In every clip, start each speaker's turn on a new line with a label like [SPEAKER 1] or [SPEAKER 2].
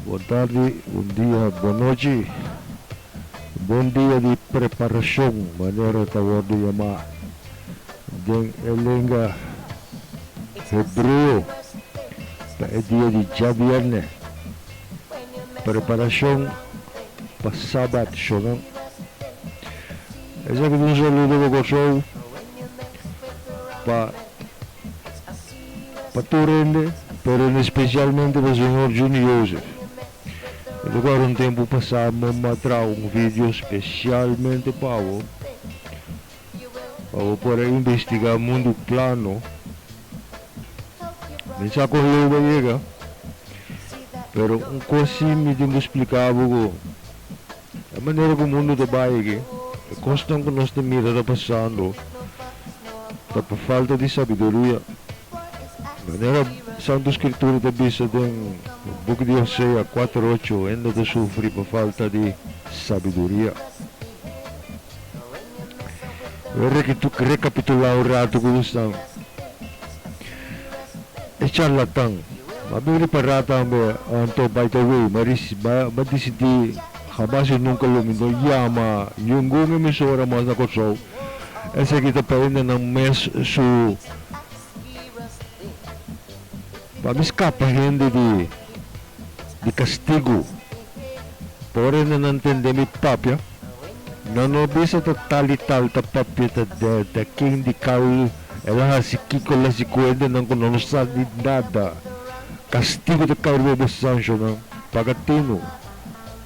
[SPEAKER 1] Bon tardi, bon dia, bon nochi. Bon dia di preparashon, manera ta wòrdu yamá den e lenga hebreo, ta e dia di djabièrnè, preparashon pa Sabat shonnan. Esaki ta un saludo pa Kòrsou, pa Pa tur hende, pero en especialmente pa Señor Juni Joseph. E ta guarda un tempu pa sa mom a traha un video specialmente pa bo, pa bo por a investiga mundu plano. Mi sa con lo bo a yega, pero un cos si mi tin bo splica bo cu. E manera ku mundu ta bai aki, e kosnan ku nos ta mira ta pasando ta pa falta di sabiduria. Manera Santu Skritura ta bisa den buki di Hosea kuater ocho, hende ta sufri pa falta di sabiduria. Bo a rekapitulá un ratu ku bo stan. E charlatan. M'a bin ri pará tambe anto bai ta wei, m'a ris, m'a, m'a disidí hamas i nunka lo mi no yama yungun emisora mas na Kòrsou. Esaki ta prende nan mes su, pa mi skapa hende di. di castigo. Pa ora na nan tende mi papia, nan no bisa ta tal y tal ta papia ta de ta ken di cal el a haci kico el haci cuenta nan cu nan no sa di nada. Castigo ta cai riba bo sanchonan paga tino.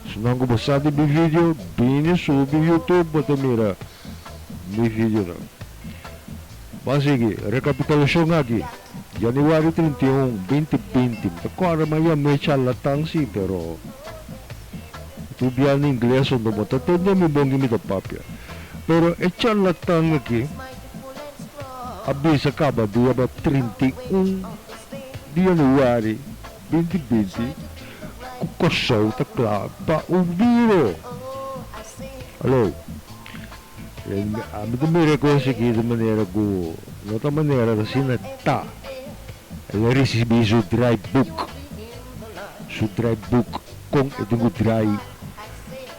[SPEAKER 1] Su nan cu bo sa di bivideo bini subi YouTube bo ta mira. mi videonan. B'a sigui rekapitulashon aki, Januari trinta i un, binti binti. Mi ta kòrda mi a yama e charlatan si, pero e tur biaha ingles so no bo ta tende mi bon ki mi ta papia. Pero e charlatan aki a bisa kabadía trinta i un di Januari. Binti binti ku Kòrsou ta kla pa un biro. Aló. Ami ta mira e kos sigidu manera ku no ta manera ta asina ta. El a risibí su draaiboek, su draaiboek kon e tin ku draai.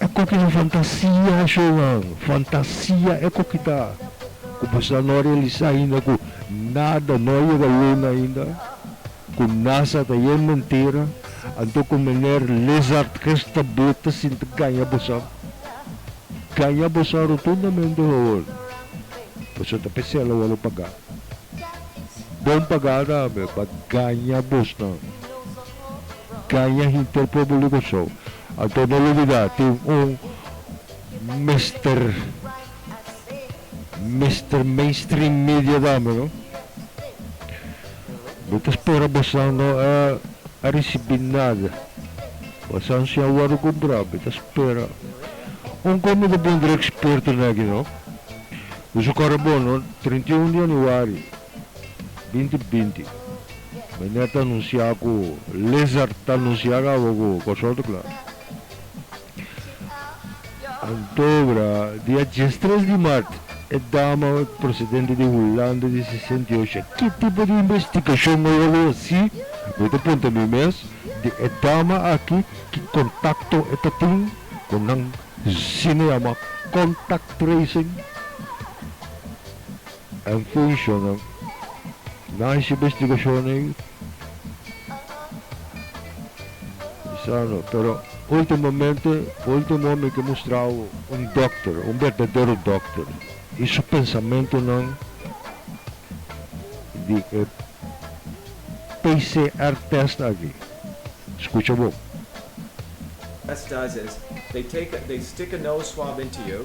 [SPEAKER 1] E koki na fantasia, Johan, fantasia e koki ta, ku bo sa no realisa ainda ku nada no yega luna ainda, ku nasa ta yen mentira, anto ku mener Lizard Christa Botha sinti gaña bo sa. Gaña bo sa rotundamente Johan. Bo sa ta p'e sela wòrdu pagá. Bon pagá tambe pa gaña bosnan. Caña hinter Pueblo di Kòrsou. Anto no lubidá tin un Mister Mister Mainstream Media tambe no. Mi ta spera Bosnan no a a risibí nada. Bosnan si a wòrdu kumprá mi ta spera. Un kos mi ta puntra ekspertonan aki no. Ku su kòrda bon no, treintiun di yanüari. Binti binti. Mene ta anunsia ku lizard ta anunsia kaba ku kòrsòrto kla. Anto bra, dia diestres di mart, e dama presidente di Hulanda di sesenta i ocho, ki tipo di investigashon no lo hasi, mi ta punta mi mes, di e dama aki ki kontakto e ta tin ku nan? Sina yama contact tracing. El funciona na e investigacionnan y sano, pero ultimamente, ultimo homber ke mustrao un dokter, un berdadero dokter y su pensamentonan di e PCR test aki, scucha bo. Test does is, they take a, they stick a nose swab into you.